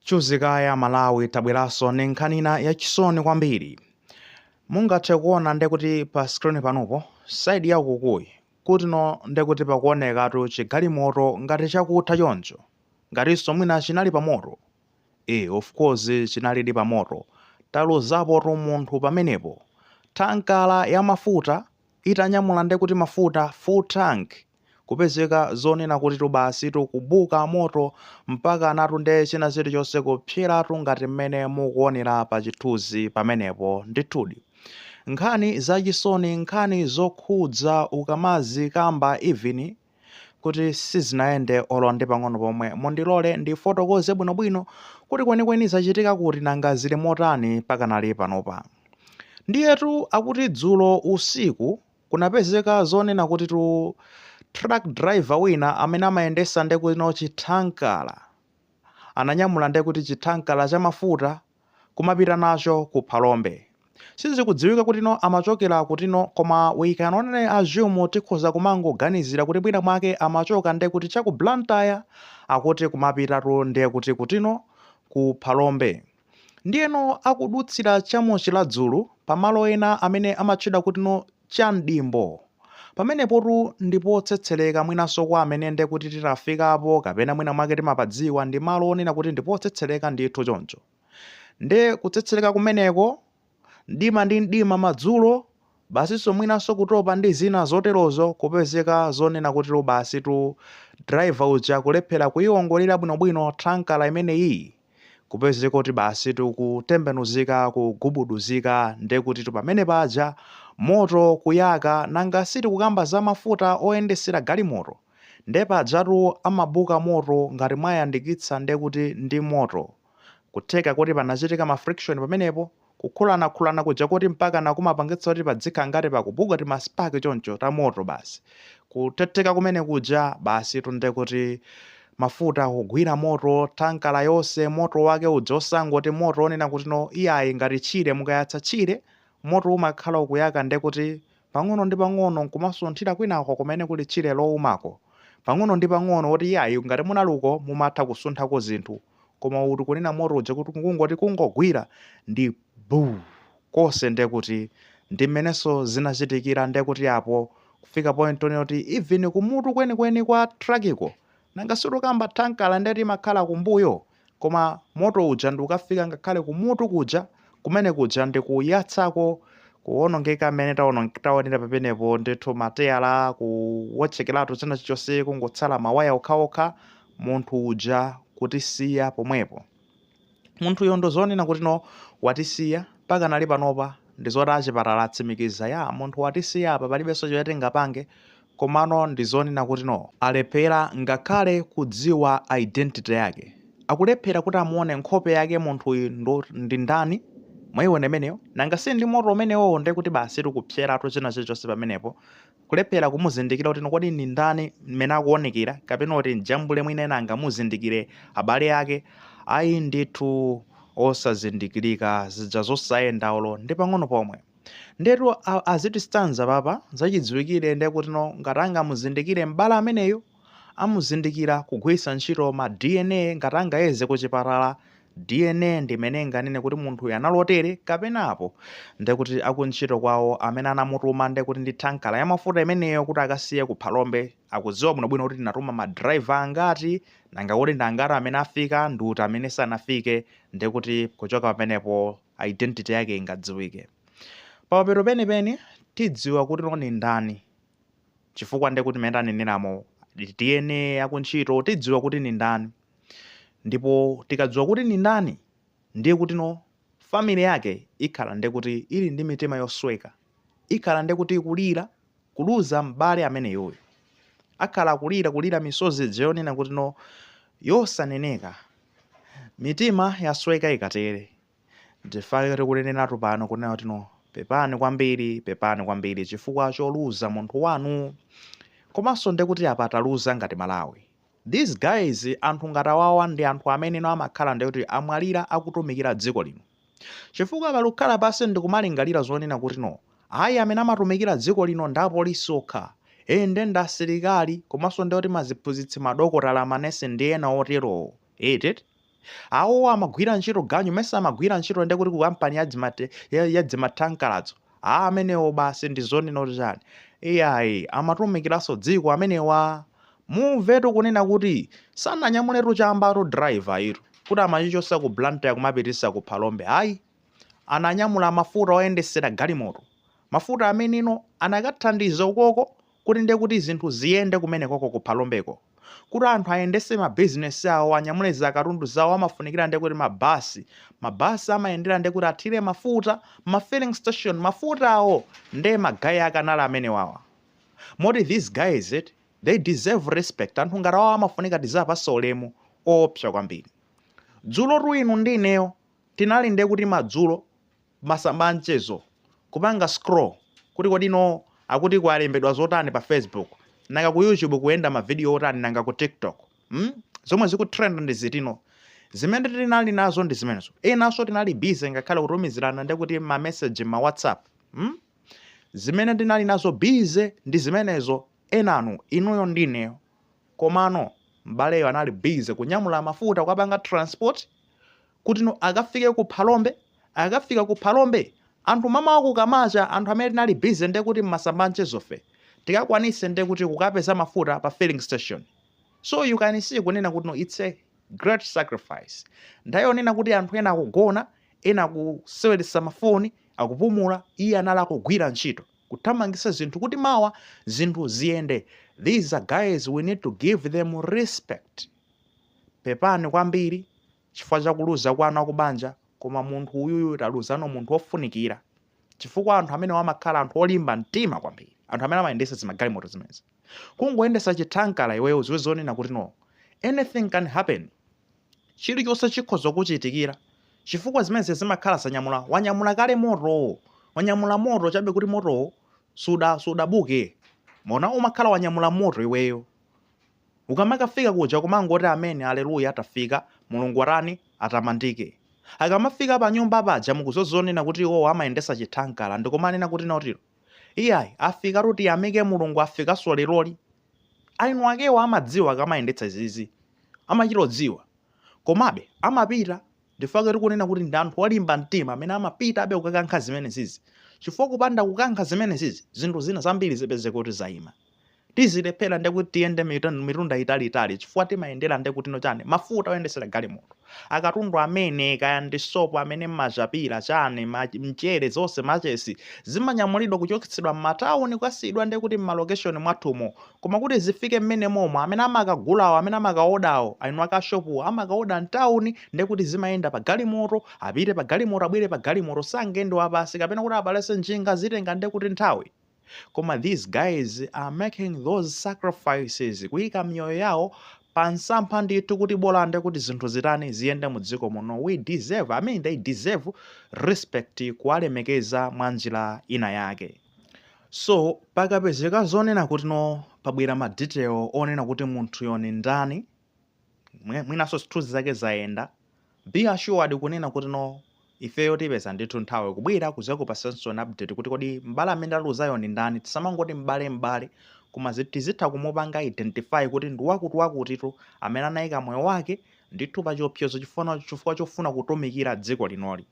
Chuzi kaye Malawi tabweranso ndi nkhani ina yachisoni kwambiri. Mungathe kuona nde kuti pa screen panupo, side ya ukukuyi, kutino nde kuti pakuonekatu chigalimoto ngati chakutha choncho, ngatinso mwina chinali pa moto. Eeh of course chinalidi pa moto, taluzapotu munthu pamenepo. Thankala ya mafuta itanyamula nde kuti mafuta, full tank, kupezeka zonena kutitu basitu kubuka moto mpakanatu nde china chilichonse kupseratu ngati mmene mukuonera pa chithunzi pamenepo. Ndithudi nkhani zachisoni, nkhani zokhudza ukamazikamba even kuti sizinayende olo ndi pang'ono pomwe. Mundilole ndifotokoze bwinobwino kuti kwenikweni zachitika kuti nanga zili motani pakanali panopa. Ndiyetu akuti dzulo usiku Kunapezeka zonena kutitu truck driver wina amene amayendesa nde kutino chi thankala ananyamula nde kuti chi thankala cha mafuta kumapita nacho ku Phalombe. Sizikudziwika kutino amachokera kutino koma we can only assume tikhoza kumangoganizira kuti mwina mwake amachoka nde kuti cha ku Blantyre akuti kumapitatu nde kuti kutino ku Phalombe. Ndiyeno akudutsira cha mu Chiradzulu, pa malo ena amene amatchedwa kutino cha mdimbo. Pamenepotu ndi potsetsereka mwinanso kwa amene nde kuti tinafikapo kapena mwina mwake timapadziwa ndi malo onena kuti ndi potsetsereka ndithu choncho nde kutsetsereka kumeneko mdima ndi mdima madzulo, basinso mwinanso kutopa ndi zina zoterozo kupezeka zonena kuti basitu driver uja kulephera kuiongolera bwinobwino thankala imeneyiyi kupezeka kuti basitu kutembenuzika kugubuduzika nde kutitu pamene paja moto kuyaka nanga sitikukamba za mafuta oyendesera galimoto nde pajatu amabuka moto ngati mwayandikitsa nde kuti ndi moto Kutheka kuti panachitika ma friction pamenepo, kukhulanakhulana kuja koti mpakana kumapangitsa kuti padzikhala ngati pakubuka tima spark choncho ta moto basi. Kuthetheka kumene kuja basitu nde kuti mafuta kugwira moto, thankala yonse moto wake uja osangoti moto wonena kutino iyayi ngati tchire mukayatsa tchire moto umakhala ukuyaka nde kuti pang'ono ndi pang'ono nkumasunthira kwinako kumene kuli tchire lowumako pang'ono ndi pang'ono oti iyayi ngati munali uko mumatha kusunthako zinthu koma uwu tikunena moto uja kuti kungoti kungogwira ndi buu konse nde kuti ndi mmenenso zinachitikira nde kuti apo kufika point yonena kuti even kumutu kwenikweni kwa trakiko nanga sitikukamba thankala nde imakhala kumbuyo koma moto uja ndi kukafika ngakhale kumutu kuja kumene kuja ndi kuyatsako kuwonongeka mmene taonera pamenepo ndithu mateyala kuwotchekeratu china chilichonse kungotsala mawaya okhaokha munthu uja kutisiya pomwepo. Munthuyo ndo zonena kuti no watisiya mpakana panopa ndizoti achipatala atsimikiza ya munthu watisiya apa palibenso chimene tingapange komano ndizonena kuti no alephera ngakhale kudziwa identity yake. Akulephera kuti amuone nkhope yake munthuyi ndi ndani mwaiona imeneyo? Nanga si ndi moto umenewowo ndekuti basitu kupseratu china chilichonse pamenepo Kulephela kumuzindikila kuti kodi ni ndani, mmene akuonekela, kapena kuti m'jambule mwina ena angamuzindikile, abale ake? Ayi ndithu, osazindikilika, zija zosayenda olo ndi pang'ono pomwe. Ndiyetu a, a zitistanza apapa, zachidziwikile ndiye kutino ngati angamuzindikile m'bale ameneyo? amuzindikira kugwiritsa ntchito ma DNA ngati angayeze kuchipatala, DNA ndi imene inganene kuti munthuyu anali otere kapena apo, ndekuti akuntchito kwawo amene anamutuma ndekuti ndi thankala ya mafuta imeneyo kuti akasiye ku Phalombe akudziwa bwinobwino kuti tinatuma ma driver angati, nanga kodi ndi angati amene afika ndi uti amene sanafike ndekuti kuchoka pamenepo identity yake ingadziwike. Pamapeto penipeni tidziwa kutino ndi ndani. chifukwa ndekuti mmene taneneramo dna akuntchito tidziwa kuti ndi ndani ndipo tikadziwa kuti ndi ndani ndiye kuti no family yake ikhala ndekuti ili ndi mitima yosweka ikhala ndekuti ikulira kuluza m'bale ameneyoyo akhala akulira kulira misozi ija yonena kuti no yosaneneka mitima yasweka ikatere Ndichifukwa chake tikuneneratu pano kunena kuti no pepani kwambiri pepani kwambiri chifukwa choluza munthu wanu komanso ndekuti apa taluza ngati Malawi. These guys anthu ngati awawa ndi anthu amene no amakhala ndekuti amwalira akutumikira dziko lino. Chifukwa pali kukhala pansi ndikumalingalira zonena kuti no ayi amene amatumikira dziko lino ndi apolisi okha, ee nde ndi asilikali komanso ndekuti maziphunzitsi, madokotala, manesi ndi ena oterowo. Eti? awowo amagwira ntchito ganyu mesa amagwira ntchito ndekuti ku kampani yadzimathankaladzo a amenewo basi ndi zonena kuti chani iyayi amatumikiranso dziko amenewa mumvetu kunena kuti sananyamuletu chambatu driver yitu kuti amachichosa ku blantyre kumapitisa ku phalombe ayi ananyamula mafuta oyendesera galimoto mafuta amene no anakathandiza ukoko kuti ndiye kuti zinthu ziyende kumenekoko ku Phalombeko, kuti anthu ayendetse mabizinesi awo, anyamule zakatundu zawo, amafunikira ndiye kuti mabasi, mabasi amayendera ndiye kuti athire mafuta, ma filling station, mafutawo ndiye ma guy ake anali amenewawa. Moti these guys eti, they deserve respect, anthu ngati awawa amafunika tiziwapatsa ulemu oopsa kwambiri. Dzulotu inu ndi ineyo tinali ndiye kuti madzulo, masamba a mchezo kupanga scroll kuti kodino akuti kwalembedwa zotani pa facebook nanga ku youtube kuyenda ma video otani nanga ku tiktok mm? zomwe zikutrend ndi zitino zimene tinali nazo ndi zimenezo enanso tinali busy ngakhale kutumizirana nde kuti ma message ma whatsapp mm? zimene tinali nazo busy ndi zimenezo enanu inuyo ndineyo komano m'baleyo anali busy kunyamula mafuta kukapanga transport kutino akafike ku Phalombe. Akafika ku Phalombe, anthu mamawa kukamacha, anthu amene tinali busy ndiye kuti m'masamba a mchezo fe, tikakwanitse ndiye kuti kukapeza mafuta pa filling station. So you can see kunena kutino it's a great sacrifice. Nthawi yonena kuti anthu ena akugona, ena akuseweretsa mafoni, akupumula, iye anali akugwira ntchito, kuthamangitsa zinthu kuti mawa zinthu ziyende. These are guys we need to give them respect. Pepani kwambiri, chifukwa cha kuluza kwanu akubanja koma munthu uyuyu taluzano munthu ofunikira chifukwa anthu amene wamakhala anthu olimba mtima kwambiri anthu amene amayendesa zimagalimoto zimenezi kungoyendesa chithankala iweyo udziwe zonena kuti no anything can happen chilichonse chikhoza kuchitikira chifukwa zimenezi zimakhala zanyamula wanyamula kale moto wanyamula moto chabe kuti moto suda sudabuke koma umakhala wanyamula moto iweyo Ukamakafika kuja kumangoti amen aleluya tafika, Mulungu atani, atamandike. Akamafika panyumba paja mukudziwa zonena kuti iwowo amayendetsa chithankala ndikumanena kuti nautilo. Iyayi, afikatu tiyamike Mulungu afikanso leroli. Eni akewo amadziwa akamayendetsa izizi. Amachita odziwa. Komabe, amapita. N'chifukwa tikunena kuti ndi anthu olimba mtima amene amapitabe kukakankha zimenezizi. Chifukwa kupanda kukankha zimenezizi, zinthu zina zambiri zipezeke kuti zaima. tizilephera nde kuti tiyende mitan- mitunda italiitali chifukwa timayendera nde kutino chani mafuta oyendesera galimoto akatundu amene kaya ndi sopo amene mumachapira chani ma- mchere zonse machesi zimanyamulidwa kuchotsedwa m'matawuni kukasiyidwa nde kuti m'malokeshoni mwathumo koma kuti zifike mmene momo amene amakagulawo amene amakaodawo eni ake a shopuwo amakaoda mtawuni nde kuti zimayenda pa galimoto apite pa galimoto abwere pa galimoto sangende wapasi kapena kuti apalase njinga zitenga nde kuti nthawi Koma these guys are making those sacrifices kuyika miyoyo yawo pa nsampha ndithu kuti bola nde kuti zinthu zitani ziyende mu dziko muno. We deserve, I mean they deserve respect kuwalemekeza mwa njira ina yake. So pakapezeka zonena kuti no pabwera ma detail onena kuti munthuyo ndi ndani mwinanso zithunzi zake zayenda be assured kunena kuti no ifeyo tipeza ndithu nthawi kubwera kuzakupasanso an update kuti kodi m'bale amene taluzayo ndi ndani tisamangoti m'bale m'bale koma zi- tizitha kumupanga identify kuti ndi wakuti wakutitu amene anayika moyo wake ndithu pa chiopsezo chifuna- chifukwa chofuna kutumikira dziko linoli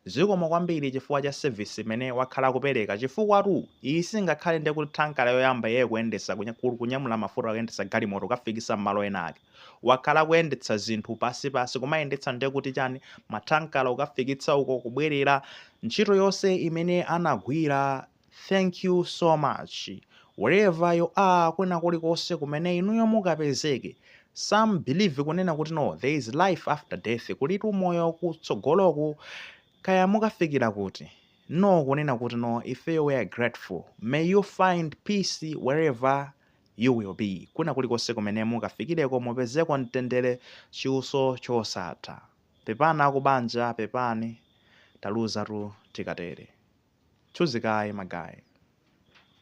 Zikomo kwambiri chifukwa cha service imene wakhala akupeleka chifukwatu iyi singakhale nde kuti thankala yoyamba iyeyo kuyendesa kunyamula mafuta kuyendesa galimoto kukafikisa mmalo ena ake wakhala akuyendetsa zinthu pansi pansi kumayendetsa nde kuti chani mathankala kukafikitsa uko kubwelera ntchito yonse imene anagwira Thank you so much wherever you are kwina kulikonse kumene inuyo mukapezeke some believe kunena kuti no there is life after death kulitu moyo kutsogoloku kaya mukafikira kuti no kunena kuti no ifeyo we are grateful may you find peace wherever you will be kwina kulikonse kumene mukafikireko mupezeko mtendere chiwutso chosatha Pepani akubanja pepani taluzatu tikatere. Chiuzikayi ma guy.